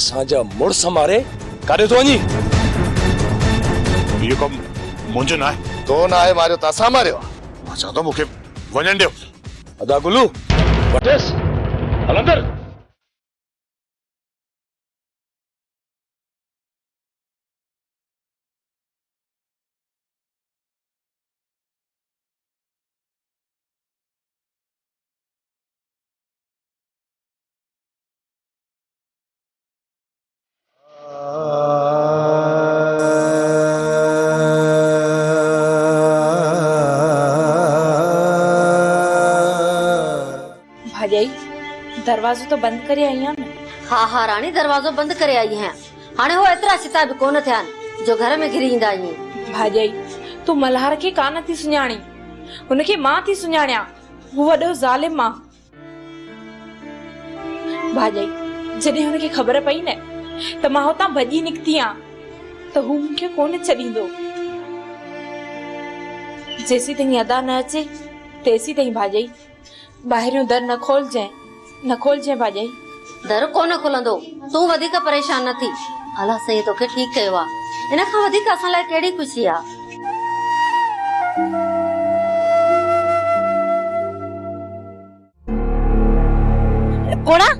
اسان جا مڙس ماري ڪاڏي ٿو وڃين. اهو ڪم منهنجو نه آهي. تو ناهي ماريو ته اسان ماريو آهي. مان چوان ٿو مون کي وڃڻ ڏيو. ادا گلو وٺيس هل اندر. ڀاڄائي دروازو ته بند ڪري آئي آهيان نه؟ ها ها راڻي دروازو بند ڪري آئي آهيان. هاڻي هو ايترا ڇتا به ڪونه ٿيا آهن جو گهر ۾ گهري ايندا هئين. ڀاڄائي تون ملهار کي ڪانه ٿي سڃاڻين. هن کي مان ٿي سڃاڻيان. هو وڏو ظالم آ. ڀاڄائي جڏهن هن کي خبر پئي نه ته مان هتان ڀڄي نڪتي آهيان ته هو مون کي ڪونه ڇڏيندو. جيسين تائين ادا نه اچي تيسين تائين ڀاڄائي ٻاهريون در نه کولجين نه کولجين ڀاڄائي. در ڪو نه کلندو، تون وڌيڪ پريشان نه ٿي. الله سائين توکي ٺيڪ ڪيو آ، ان کان وڌيڪ اسان لاء ڪهڙي خوشي آ. پوڙها،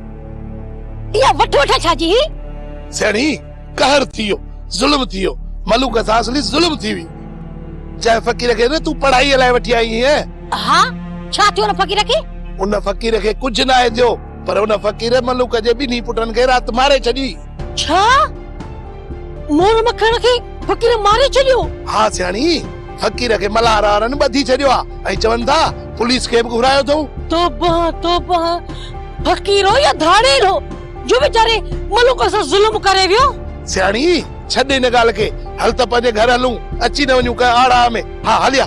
اها وٺ وٺ ڇا جي هي؟ سيڻي، قهر ٿي ويو، ظلم ٿي ويو، ملوڪ سان اصلي ظلم ٿي ويئي. جنهن فقير کي نه تون پڙهائيء لاء وٺي آئي هئين. ها، ڇا ٿيو ان فقير کي؟ ان فقير کي ڪجهه ناهي ٿيو. پر ان فقير ملوڪ جي ٻنهي پٽن کي رات ماري ڇڏي. ڇا! مور مکڻ کي فقير ماري ڇڏيو؟ ها سياڻي، فقير کي ملاح راهرن ٻڌي ڇڏيو آ ۽ چون ٿا پوليس کي به گهرايو اٿئون. توبه توبه، فقير هو يا ڌاڙيل هو جو ويچاري ملوڪ سان ظلم ڪري ويو؟ سياڻي، ڇڏ ان ڳالهه کي، هل ته پنهنجي گهر هلون، اچي نه وڃون ڪنهن آڙاهه ۾، ها هليا!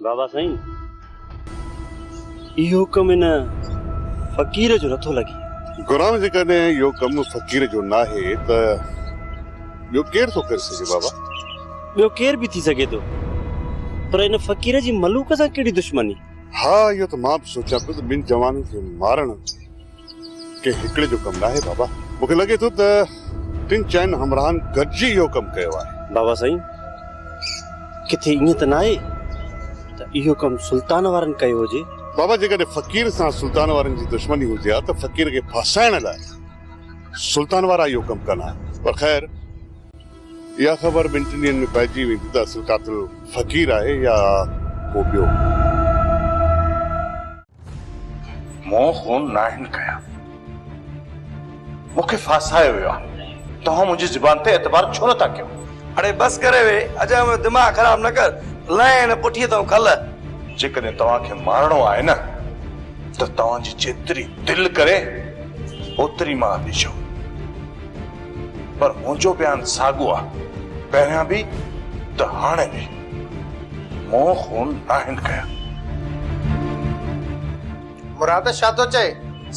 بابا سائين اهو ڪم ان فقير جو نٿو لڳي. گرام جيڪڏهن اهو ڪم فقير جو ناهي ته ٻيو ڪير ٿو ڪري سگهي بابا؟ ٻيو ڪير به ٿي سگهي ٿو پر ان فقير جي ملوڪ سان ڪهڙي دشمني؟ ها اهو ته مان به سوچيان پيو ته ٻن جوانن کي مارڻ ڪنهن هڪڙي جو ڪم ناهي بابا. مون کي لڳي ٿو ته ٽن چئن همراهن گڏجي اهو ڪم ڪيو آهي. بابا سائين ڪٿي ائين ته ناهي ته اهو ڪم سلطان وارن ڪيو هجي؟ بابا جيڪڏهن فقير سان سلطان وارن جي دشمني هجي ها ته فقير کي ڦاسائڻ لاء سلطان وارا اهو ڪم ڪن ها. پر خير اها خبر ٻن ٽن ڏينهن ۾ پئجي ويندي ته اصل قاتل فقير آهي يا ڪو ٻيو. مون خون ناهن ڪيا. مون کي ڦاسايو ويو آهي. توهان منهنجي زبان تي اعتبار ڇو نٿا ڪيو؟ اڙي بس ڪر اهي اجهن جو دماغ خراب نه ڪر. لانء هن پٺيء تان کل. جيڪڏهن توهان کي مارڻو آهي نه ته توهان جي جيتري دل ڪري اوتري مان ڏجو. پر منهنجو بيان ساڳو آهي، پهريان به ته هاڻي به. مون خون ناهن ڪيا. مراد ڇا ٿو چئي؟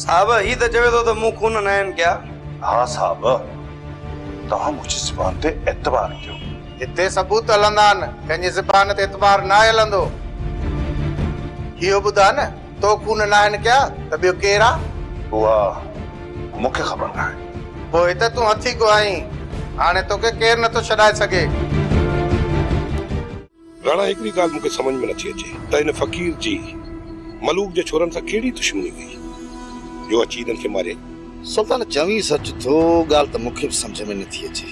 صاحب هي ته چوي ٿو ته مون خون ناهن ڪيا. ها صاحب توهان منهنجي زبان تي اعتبار ڪيو. هتي ثبوت هلندا آهن ڪنهن جي زبان تي اعتبار ناهي هلندو. اهو ٻڌاء نه تو خون ناهن ڪيا ته ٻيو ڪير آ؟ اها مون کي خبر ناهي. پوء ته تون هٿي ڪو آهين. هاڻي توکي ڪير نٿو ڇڏائي سگهي. راڻا هڪڙي ڳالهه مون کي سمجهه ۾ نٿي اچي ته هن فقير جي ملوڪ جي ڇورن سان ڪهڙي دشمني هئي جو اچي هنن کي ماريائين. سلطان چوين سچ ٿو ڳالهه ته مون کي به سمجهه ۾ نٿي اچي.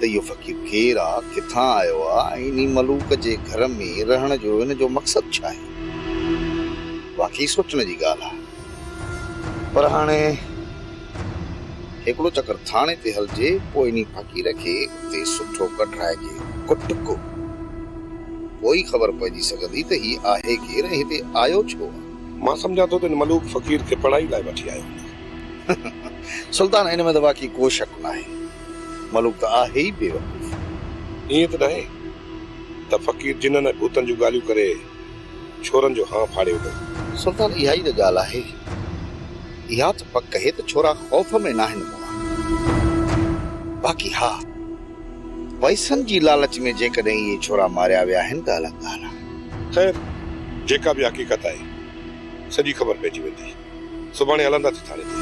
ته اهو فقير ڪير آ، ڪٿان آيو آ ۽ انهي ملوڪ جي گهر ۾ رهڻ جو هن جو مقصد ڇا آهي؟ واقعي سوچڻ جي ڳالهه آ. پر هاڻي هڪڙو چڪر ٿاڻي تي هلجي، پوء انهي فقير کي اتي سٺو ڪڍرائجي، ڪٽ ڪو. پوء ئي خبر پئجي سگهندي ته هي آهي ڪير ۽ هتي آيو ڇو آ؟ مان سمجهان ٿو ته هن ملوڪ فقير کي پڙهائي لاء وٺي آيو هوندو. سلطان، ان ۾ ته واقعي ڪو شڪ ناهي. ملوڪ ته آهي ئي بيوقوف. ائين ته ناهي ته فقير جنن ۽ ڀوتن جون ڳالهيون ڪري ڇورن جو هانء ڦاڙي وڌو. سلطان اها ئي ته ڳالهه آهي. اها ته پڪ اهي ته ڇورا خوف ۾ ناهن موئا. باقي ها پئسن جي لالچ ۾ جيڪڏهن اهي ڇورا ماريا ويا آهن ته الڳ ڳالهه آهي. خير جيڪا به حقيقت آهي سڄي خبر پئجي ويندي. سڀاڻي هلنداسين ٿاڻي تي.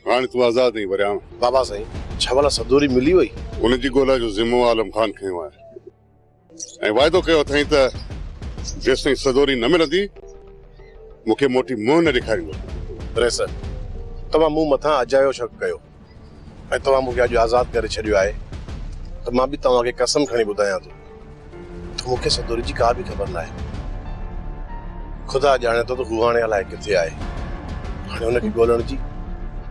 هاڻي تون آزاد آهين ورياڻ. بابا سائين ڇا ڀلا سدوري ملي وئي؟ ان جي ڳولا جو ذمو عالم خان کنيو آهي ۽ واعدو ڪيو اٿائين ته جيستائين سدوري نه ملندي مون کي موٽي منهن نه ڏيکاريندو. رئيس توهان مون مٿان اجايو شڪ ڪيو. ۽ توهان مون کي اڄ آزاد ڪري ڇڏيو آهي ته مان به توهان کي قسم کڻي ٻڌايان ٿو ته مون کي سدوري جي ڪا به خبر ناهي. خدا ڄاڻي ٿو ته هو هاڻي الائي ڪٿي آهي. هاڻي هن کي ڳولڻ جي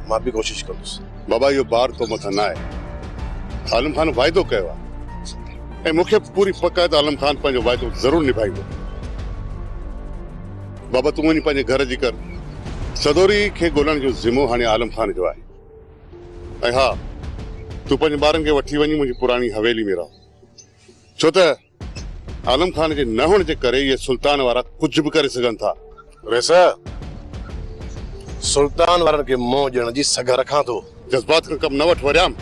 مان به ڪوشش ڪندس. بابا اهو بار تو مٿان نه آهي. عالم خان وعدو ڪيو آهي ۽ مون کي به پوري پڪ آهي ته عالم خان پنهنجو وعدو ضرور نڀائيندو. بابا تون وڃ پنهنجي گهر جي ڪر. سدوري کي ڳولڻ جو ذمو هاڻي عالم خان جو آهي. ۽ ها تون پنهنجن ٻارن کي وٺي وڃي منهنجي پراڻي حويلي ۾ رهه. ڇو ته عالم خان جي نه هئڻ جي ڪري اهي سلطان وارا ڪجهه به ڪري سگهن ٿا. ويس، سلطان وارن کي منهن ڏيڻ جي سگهه رکان ٿو. جذبات کان ڪم نه وٺ وريام.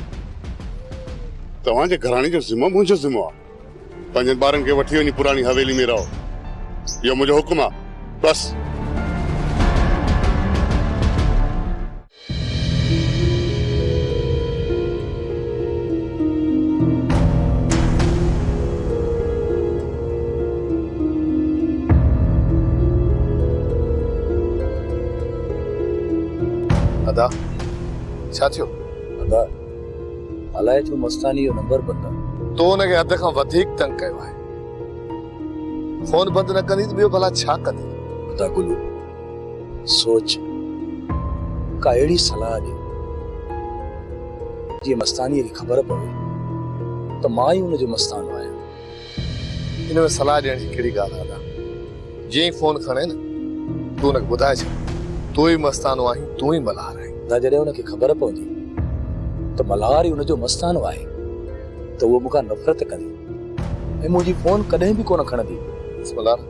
توهان جي گهراڻي جو ذمو منهنجو ذمو آهي. پنهنجن ٻارن کي وٺي وڃي پراڻي حويلي ۾ رهو. اهو منهنجو حڪم آ. بس. ادا، ڇا ٿيو؟ ادا. الائي ڇو مستاني جو نمبر بند آ. تو ان کي حد کان وڌيڪ تنگ ڪيو آهي. فون بند نه ڪندي ته ٻيو ڀلا ڇا ڪندي. خدا گلو سوچ ڪا اهڙي صلاح ڏي جيئن مستانيء کي خبر پوي ته مان ئي ان جو مستانو آهيان. ان ۾ صلاح ڏيڻ جي ڪهڙي ڳالهه آهي ادا. جيئن ئي فون کڻي نه تون ان کي ٻڌائي ڇڏ تون ئي مستانو آهين تون ئي ملهار آهين. ادا جڏهن ان کي خبر پوندي ته ملهار ئي ان جو مستانو آهي ته هوء مون کان نفرت ڪندي ۽ منهنجي فون ڪڏهن به ڪونه کڻندي. بس ملهار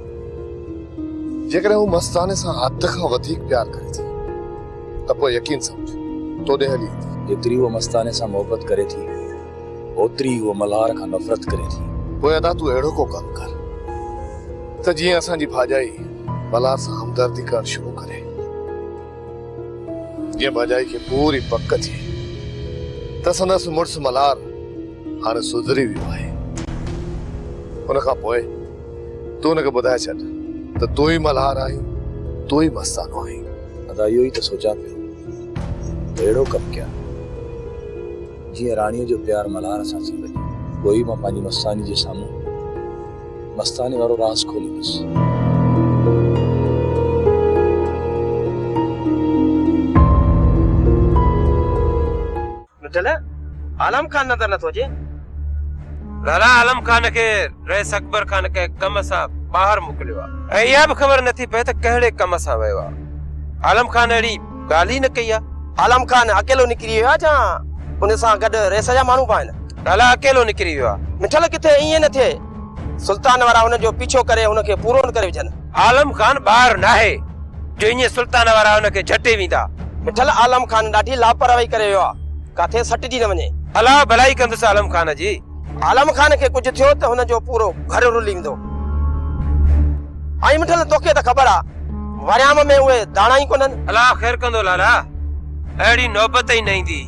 جيڪڏهن هوء مستاني سان حد کان وڌيڪ پيار ڪري ٿي ته پوء يقين سمجهه تو ڏي هلي ايندي. جيتري هوء مستاني سان محبت ڪري ٿي اوتري ئي هوء ملهار کان نفرت ڪري ٿي. پوء ادا تون اهڙو ڪو ڪم ڪر ته جيئن اسان جي ڀاڄائي ملهار سان همدردي ڪرڻ شروع ڪري. جيئن ڀاڄائي کي پوري پڪ ٿئي ته سندس مڙس ملهار هاڻي سڌري ويو آهي. ان کان پوء تون هن کي ٻڌائي ڇڏ ته تون ئي ملهار آهين، تون ئي مستانو آهين. ادا اهو ئي ته سوچان پيو ته اهڙو ڪم ڪيان. جيئن راڻيء جو پيار ملهار سان ٿي وڃي. پوء ئي مان پنهنجي مستاني جي سامهون مستاني وارو راز کوليندس. مٽل، عالم خان نظر نٿو اچي؟ لالا عالم خان کي رئيس اڪبر خان ڪنهن ڪم سان ٻاهر موڪليو آهي ۽ اها به خبر نٿي پئي ته ڪهڙي ڪم سان ويو آهي. عالم خان اهڙي ڳالهه ئي نه ڪئي آ. عالم خان اڪيلو نڪري ويو آ جا ان سان گڏ ريس جا ماڻهو به آهن؟ ڀلا اڪيلو نڪري ويو آ. مٺل ڪٿي ائين نه ٿئي. سلطان وارا هن جو پيڇو ڪري هن کي پورو نه ڪري وجهن. عالم خان ٻار ناهي جو ائين سلطان وارا هن کي جهٽي ويندا. مٺل عالم خان ڏاڍي لاپرواهي ڪري ويو آ. ڪاٿي سٽجي نه وڃي. الله ڀلائي ڪندس عالم خان جي. عالم خان کي ڪجهه ٿيو ته هن جو پورو گهر رليندو. آئي مٺل توکي ته خبر آ وريام ۾ اهي داڻا ئي ڪونهن. الله خير ڪندو لالا اهڙي نوبت ئي نه ايندي.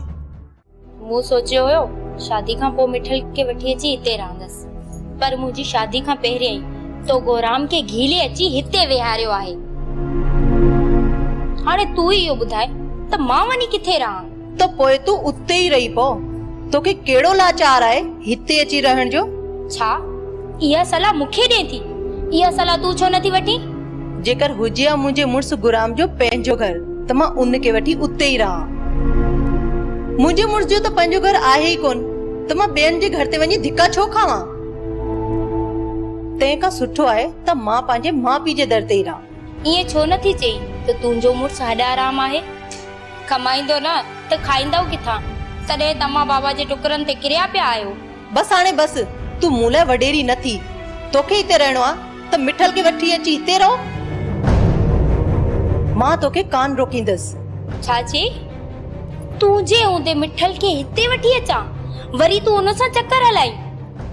مون سوچيو هيو شادي کان پوء مٺل کي وٺي اچي هتي رهندس پر منهنجي شادي کان پهريان ئي تو گورام کي گهيلي اچي هتي ويهاريو آهي. هاڻي تون ئي اهو ٻڌاء ته مان وڃي ڪٿي رهان. ته پوء تون اتي ئي رهي پو. توکي ڪهڙو لاچار آهي هتي اچي رهڻ جو؟ ڇا اها صلاح مون کي ڏئين ٿي؟ اها صلاح تون ڇو نٿي وٺين؟ جيڪر هجي ها منهنجي مڙس گرام جو پنهنجو گهر ته مان ان کي وٺي اتي ئي رهان ها. منهنجي مڙس جو ته پنهنجو گهر آهي ئي ڪونه ته مان ٻين جي گهر تي وڃي ڌڪا ڇو کاوان؟ تنهن کان سٺو آهي ته مان پنهنجي ماء پيء جي در تي ئي رهان. ائين ڇو نٿي چئين ته تنهنجو مڙس هڏ آرام آهي؟ ڪمائيندؤ نه ته کائيندؤ ڪٿان؟ تڏهن توهان بابا جي ٽڪرن تي ڪريا پيا آهيو. بس هاڻي بس، تون مون لاء وڏيري نه ٿي. توکي هتي رهڻو آ ته مٺل کي وٺي اچي هتي رهو. مان توکي ڪانه روڪيندس. ڇا چئي؟ تون جي هوندي مٺل کي هتي وٺي اچان؟ وري تون ان سان چڪر هلائين؟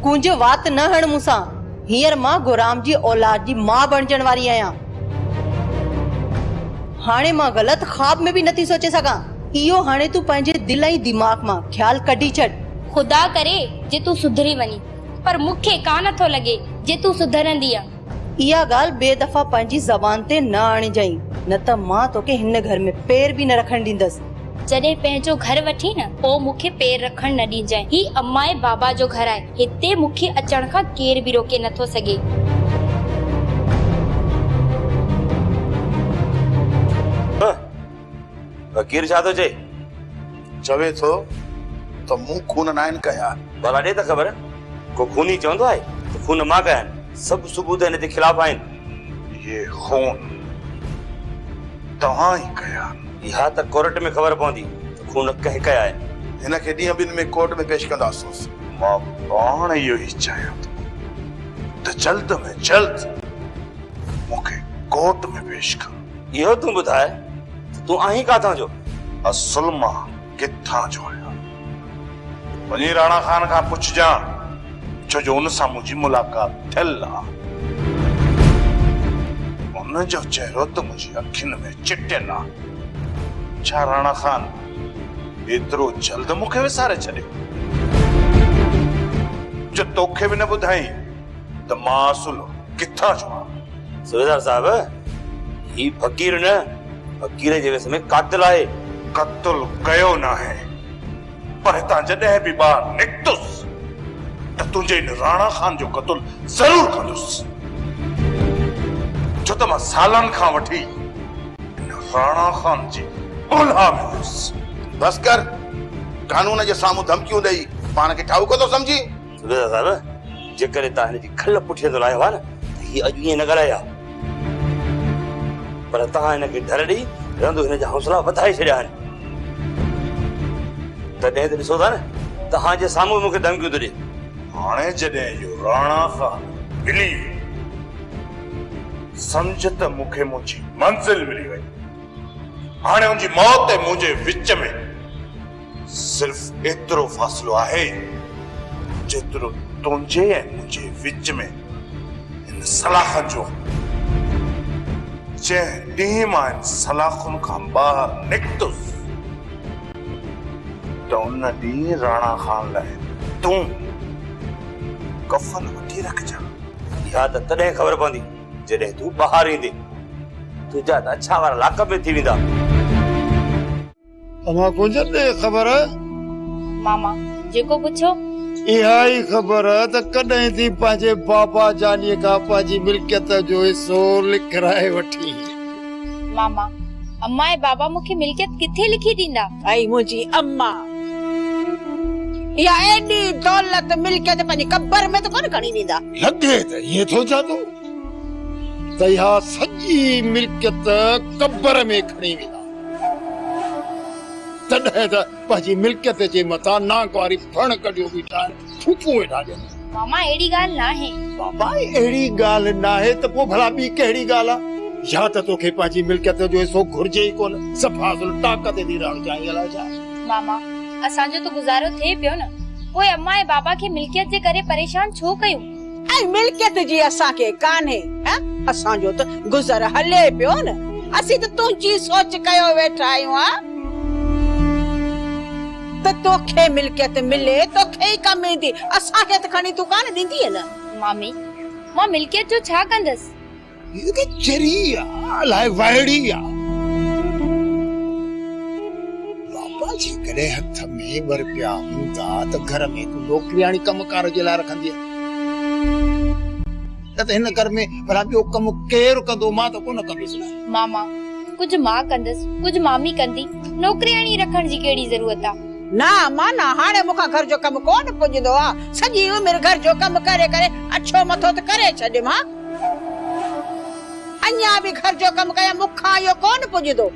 ڪونجهه وات نه هڻ مون سان. هينئر مان گهرام جي اولاد جي ماء بڻجڻ واري آهيان. هاڻي مان غلط خواب ۾ به نٿي سوچي سگهان. اهو هاڻي تون پنهنجي دل ۽ دماغ مان خيال ڪڍي ڇڏ. خدا ڪري جي تون سڌري وڃين. پر مون کي ڪا نٿو لڳي جي تون سڌرندينء. اها ڳالهه ٻئي دفعا پنهنجي زبان تي نه آڻيجانء، نه ته مان توکي هن گهر ۾ پير به نه رکڻ ڏيندس. جڏهن پنهنجو گهر وٺين نه پوء مون کي پير رکڻ نه ڏينجانء. هي امائي بابا جو گهر آهي. هتي مون کي اچڻ کان ڪير به روڪي نه ٿو سگهي. هنء! فقير ڇا ٿو چئي؟ چوي ٿو ته مون خون ناهن ڪيا. ڀلا ڏي ته خبر! ڪو خوني چوندو آهي ته خون مان ڪيا آهن. سڀ ثبوت هن جي خلاف آهن. اهي خون توهان ئي ڪيا آهن. اها ته ڪورٽ ۾ خبر پوندي ته خون ڪنهن ڪيا آهن. هن کي ڏينهن ٻن ۾ ڪورٽ ۾ پيش ڪنداسونس. مان پاڻ اهو ئي چاهيان ٿو ته جلد ۾ جلد مون کي ڪورٽ ۾ پيش ڪر. اهو تون ٻڌاء ته تون آهين ڪاٿان جو؟ اصل مان ڪٿان جو آهيان؟ وڃي راڻا خان کان پڇجان، ڇو جو ان سان منهنجي ملاقات ٿيل آ. ان جو چهرو ته منهنجي اکين ۾ چٽيل آ. ڇا راڻا خان ايترو جلد مون کي وساري ڇڏيو، جو توکي به نه ٻڌايئي ته مان اصل ڪٿان جو آهيان؟ سردار صاحب هي فقير نه فقير جي ويس ۾ قاتل آهي. قتل ڪيو ناهي پر هتان جڏهن به ٻاهر نڪتس ته تنهنجي ان راڻا خان جو قتل ضرور ڪندس ڇو ته مان سالن کان وٺي ان راڻا خان جي ڳولها ۾ هيس. بس ڪر قانون جي سامهون ڌمڪيون ڏئي پاڻ کي ٺاهوڪو ٿو سمجهين. سندس صاحب جيڪڏهن توهان هن جي کل پٺيء تي لاهيو ها نه ته هي اڄ ائين نه ڳالهائي ها. پر توهان هن کي ڍر ڏئي رندو هن جا حوصلا وڌائي ڇڏيا آهن. تڏهن ته ڏسو ٿا نه توهان جي سامهون به مون کي ڌمڪيون ٿو ڏي. هاڻي جڏهن اهو راڻا خان ملي ويو سمجهه ته مون کي منهنجي منزل ملي وئي. هاڻي ان جي موت ۽ منهنجي وچ ۾. صرف ايترو فاصلو آهي جيترو تنهنجي ۽ منهنجي وچ ۾ هن سلاخن جو آهي. جنهن ڏينهن مان هن سلاخن کان ٻاهر نڪتس ته ان ڏينهن راڻا خان لاء تون ڪفن وٺي رکجان. اها ته تڏهن خبر پوندي جڏهن تون ٻاهر ايندين. تنهنجا ته اڇا وار لاڪ ۾ ٿي ويندا. اوهان ڪونجهن ڏي خبر. ماما جيڪو پڇيو. اها ئي خبر ته ڪڏهن ٿي پنهنجي بابا جانيء کان پنهنجي ملڪيت جو حصو لکرائي وٺين. ماما امان ۽ بابا مون کي ملڪيت ڪٿي لکي ڏيندا. اي منهنجي امان اها ايڏي دولت ملڪيت پنهنجي قبر ۾ ته ڪونه کڻي ويندا. لڳي ته ائين ٿو جانو ته اها سڄي ملڪيت قبر ۾ کڻي ويندا. تڏهن ته پنهنجي ملڪيت جي مٿان نانگ واري ڦڻ ڪڍيو بيٺا آهن، ڦوڪون ويٺا ڏين. ماما اهڙي ڳالهه ناهي. بابا اهڙي ڳالهه ناهي ته پوء ڀلا ٻي ڪهڙي ڳالهه آ؟ يا ته توکي پنهنجي ملڪيت جو حصو گهرجي ئي ڪونه، صفا ظلم ٽاڪ تي ٿي رهڻ چاهين الائي ڇا؟ ماما اسان جو ته گذارو ٿئي پيو نه، پوء امان ۽ بابا کي ملڪيت جي ڪري پريشان ڇو ڪيون؟ ۽ ملڪيت جي اسان کي ڪانهي ها اسان جو ته گذر هلي پيو نه اسين ته تنهنجي سوچ ڪيو ويٺا آهيون ها ته توکي ملڪيت ملي توکي ئي ڪم ايندي اسان کي ته کڻي تون ڪانه ڏيندينء نه. مامي مان ملڪيت جو ڇا ڪندس. هيء ته چري آ، الاء وائڙي آ. بابا جيڪڏهن هٿ ۾ ٻه رپيا هوندا ته گهر ۾ هڪ نوڪرياڻي ڪم ڪار جي لاء رکندينء. نه ته هن گهر ۾ ڀلا ٻيو ڪم ڪير ڪندو، مان ته ڪونه ڪندس نه. ماما، ڪجهه مان ڪندس، ڪجهه مامي ڪندي، نوڪرياڻي رکڻ جي ڪهڙي ضرورت آ. نه امان نه، هاڻي مون کان گهر جو ڪم ڪونه پڄندو آ. سڄي عمر گهر جو ڪم ڪري ڪري اڇو مٿو ته ڪري ڇڏيم ها. اڃا به گهر جو ڪم ڪيان مون کان اهو ڪونه پڄندو.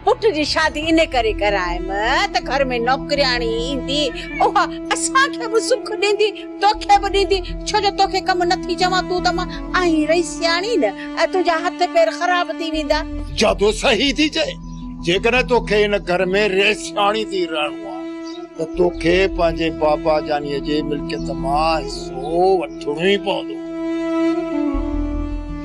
پٽ جي شادي ان ڪري ڪرايم ته گهر ۾ نوڪرياڻي ايندي اها اسان کي به سک ڏيندي توکي به ڏيندي ڇو جو توکي ڪم نه ٿي چوان تون ته مان آهين رئي سياڻي نه ۽ تنهنجا هٿ پير خراب ٿي ويندا. جادو صحيح ٿي چئي. جيڪڏهن توکي هن گهر ۾ رهسياڻي ٿي رهڻو آ ته توکي پنهنجي بابا جانيء جي ملڪيت مان حصو وٺڻو ئي پوندو.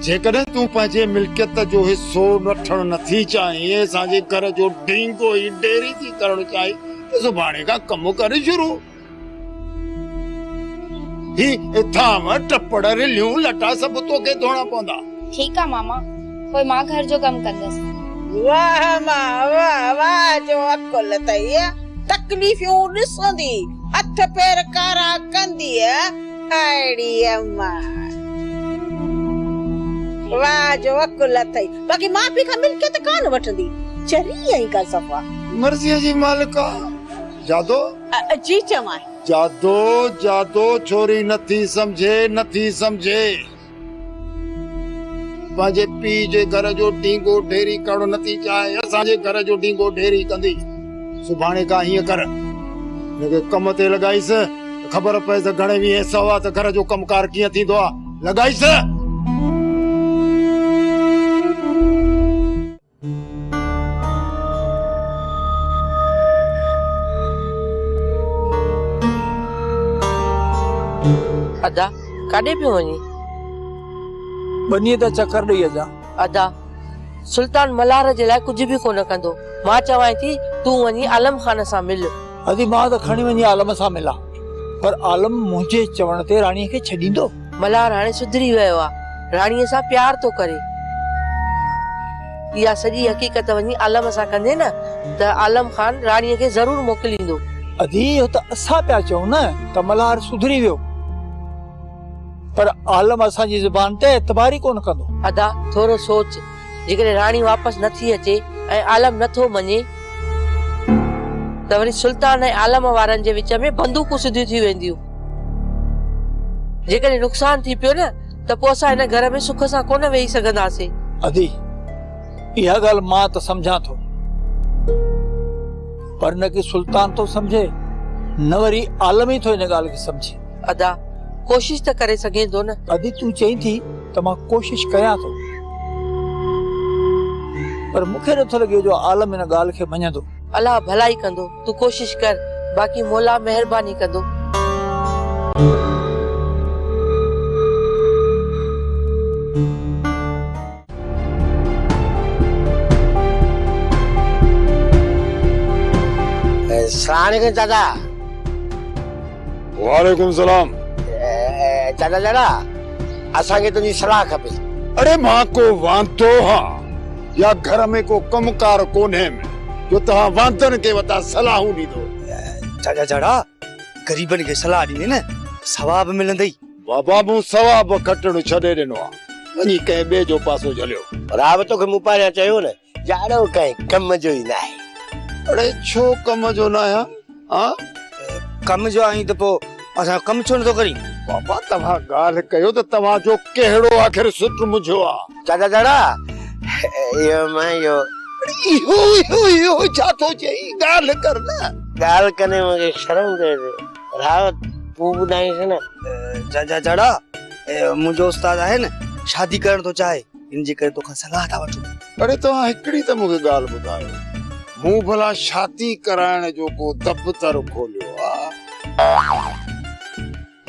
جيڪڏهن تون پنهنجي ملڪيت جو حصو وٺڻ نٿي چاهين ۽ اسان جي گهر جو ڍينگو ئي ڍيري ٿي ڪرڻ چاهين ته سڀاڻي کان ڪم ڪر شروع. هي ٿانو ٽپڙ رليون لٽا سڀ توکي ڌوئڻا پوندا. ٺيڪ آ ماما پوء مان گهر جو ڪم ڪندس. واه ماء واه واه جو عقل اٿئي تڪليفيون ڏسندي هٿ پير ڪارا ڪنديء اهڙي اماء واه جو عقل اٿئي باقي ماء پيء کان ملڪيت ڪانه وٺندي چري ائين ڪا صفا. مرضيء جي مالڪا. جادو جي چوان. جادو جادو ڇوري نٿي سمجهي نٿي سمجهي. پنهنجي پيء جي گهر جو ڍينگو ڍيري ڪرڻ نٿي چاهي اسان جي گهر جو ڍينگو ڍيري ڪندي. سڀاڻي کان هيئن ڪر هن کي ڪم تي لڳائيس ته خبر پئي ته گهڻي ويهين سوا ته گهر جو ڪم ڪار ڪيئن ٿيندو آهي. لڳائيس. ادا ڪاڏي پيو وڃين؟ ٻنيء تان چڪر ڏئي اچان. ادا سلطان ملهار جي لاء ڪجهه به ڪونه ڪندو. مان چوانء ٿي تون وڃي عالم خان سان مل. ادي مان ته کڻي وڃي عالم سان ملان پر عالم منهنجي چوڻ تي راڻي کي ڇڏيندو؟ ملهار هاڻي سڌري ويو آ راڻي سان پيار ٿو ڪري. اها سڄي حقيقت وڃي عالم سان ڪندي نه ته عالم خان راڻي کي ضرور موڪليندو. ادي اهو ته اسان پيا چئون نه ته ملهار سڌري ويو پر عالم اسان جي زبان تي اعتبار ئي ڪونه ڪندو. ادا ٿورو سوچ. جيڪڏهن راڻي واپس نه ٿي اچي ۽ عالم نه ٿو مڃي ته وري سلطان ۽ عالم وارن جي وچ ۾ بندوقون سڌيون ٿي وينديون. جيڪڏهن نقصان ٿي پيو نه ته پوء اسان هن گهر ۾ سک سان ڪونه ويهي سگهنداسين. ادي، اها ڳالهه مان ته سمجهان ٿو. پر نه ڪي سلطان ٿو سمجهي نه وري عالم ئي ٿو ان ڳالهه کي سمجهي. ادا، ڪوشش ته ڪري سگهين ٿو نه. ادي، تون چئين ٿي. ته مان ڪوشش ڪريان ٿو پر مون کي نٿو لڳي جو عالم ان ڳالهه کي مڃندو. الله ڀلائي ڪندو تون ڪوشش ڪر باقي مولا مهرباني ڪندو. السلام عليڪم چاچا. وعليڪم السلام. چاچا چاچا. اسان کي تنهنجي صلاح کپي. اڙي مان ڪو واندو هان يا گهر ۾ ڪو ڪم ڪار ڪونهيم جو توهان واندن کي وتان صلاحون ڏيندو. چاچا جاڙا غريبن کي صلاح ڏيندين نه ثواب ملندئي. بابا مون ثواب کٽڻ ڇڏي ڏنو آ. وڃي ڪنهن ٻئي جو پاسو جهليو. ڀرا به توکي مون پهريان چيو نه جاڙو ڪنهن ڪم جو ئي ناهي. اڙي ڇو ڪم جو نه آهيان ها؟ ڪم جو آهين ته پوء اسان جو ڪم ڇو نٿو ڪرين؟ بابا توهان ڳالهه ڪيو ته توهان جو ڪهڙو آخر سٽ منجهيو آ؟ چاچا جاڙا اهو مان اهو. اهو اهو اهو ڇا ٿو چئي ڳالهه ڪر نه. ڳالهه ڪندي مون کي شرم ٿئي ٿي راوت تون ٻڌائينس نه. چاچا جاڙا اهو منهنجو استاد آهي نه شادي ڪرڻ ٿو چاهي. ان جي ڪري توکان صلاح ٿا وٺون. اڙي توهان هڪڙي ته مونکي ڳالهه ٻڌايو مون ڀلا شادي ڪرائڻ جو ڪو دفتر کوليو آ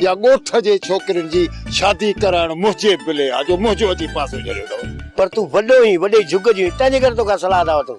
يا ڳوٺ جي ڇوڪرين جي شادي ڪرائڻ منهنجي بلي آ جو منهنجو اچي پاسو جهليو اٿو. پر تون وڏو هين وڏي جهڳ جو هين تنهنجي ڪري توکان صلاح ٿا وٺون.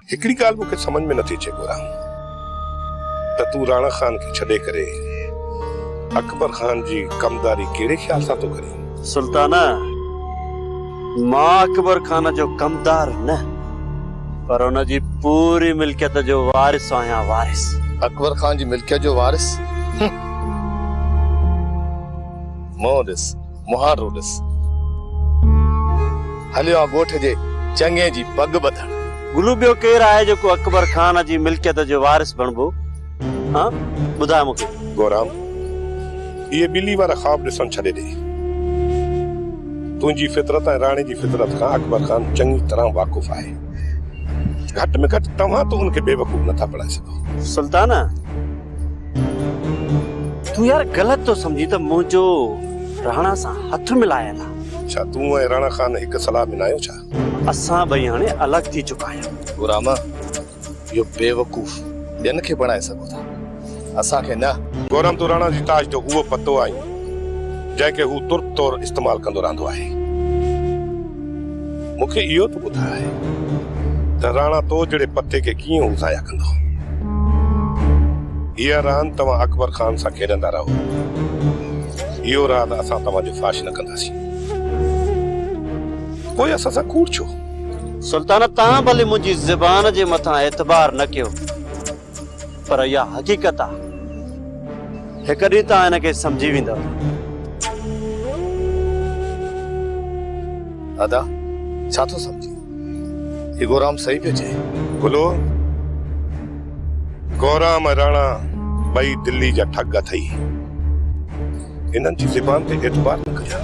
هڪڙي ڳالهه مون کي سمجهه ۾ نٿي اچي گورا ته تون راڻا خان کي ڇڏي ڪري اڪبر خان جي ڪمداري ڪهڙي خيال سان ٿو ڪرين؟ سلطانه مان اڪبر خان جو ڪمدار نه پر ان جي پوري ملڪيت جو وارث آهيان وارث. اڪبر خان جي ملڪيت جو وارث؟ منهن ڏس. مهارو ڏس، هليو آ ڳوٺ جي چڱي جي پڳ ٻڌڻ. گلو ٻيو ڪير آهي جيڪو اڪبر خان جي ملڪيت جو وارث بڻبو ها ٻڌاء مون کي. گورام اهي ٻلي وارا خواب ڏسڻ ڇڏي ڏي. تنهنجي فطرت ۽ راڻي جي فطرت کان اڪبر خان چڱي طرح واقف آهي. گهٽ ۾ گهٽ توهان ته ان کي بيوقوف نٿا بڻائي سگهو. سلطانه! تون يار غلط ٿو سمجهين ته منهنجو راڻا سان هٿ ملايل آ. ڇا تون ۽ راڻا خان هڪ صلاح ۾ ناهيو ڇا؟ اسان ٻئي هاڻي الڳ ٿي چڪا آهيون. گورامه اهو بيوقوف ٻين کي بڻائي سگهو ٿا اسان کي نه. گورام تون راڻا جي تاج جو اهو پتو آهين جنهن کي هو ترت طور استعمال ڪندو رهندو آهي. مون کي اهو ته ٻڌاء ته راڻا تو جهڙي پتي کي ڪيئن اوزايا ڪندو؟ هيء راند توهان اڪبر خان سان کيڏندا رهو. اهو راز اسان توهان جو فاش نه ڪنداسين. پوء اسان سان ڪوڙ ڇو؟ سلطان توهان ڀلي منهنجي زبان جي مٿان اعتبار نه ڪيو، پر اها حقيقت آ. هڪ ڏينهن توهان هن کي سمجهي ويندؤ. ادا ڇا ٿو سمجهين؟ هي گورام صحيح پيو چئي. گلو، گورام ۽ راڻا ٻئي دلي جا ٺڳ اٿئي. هنن جي زبان تي اعتبار نه ڪجان.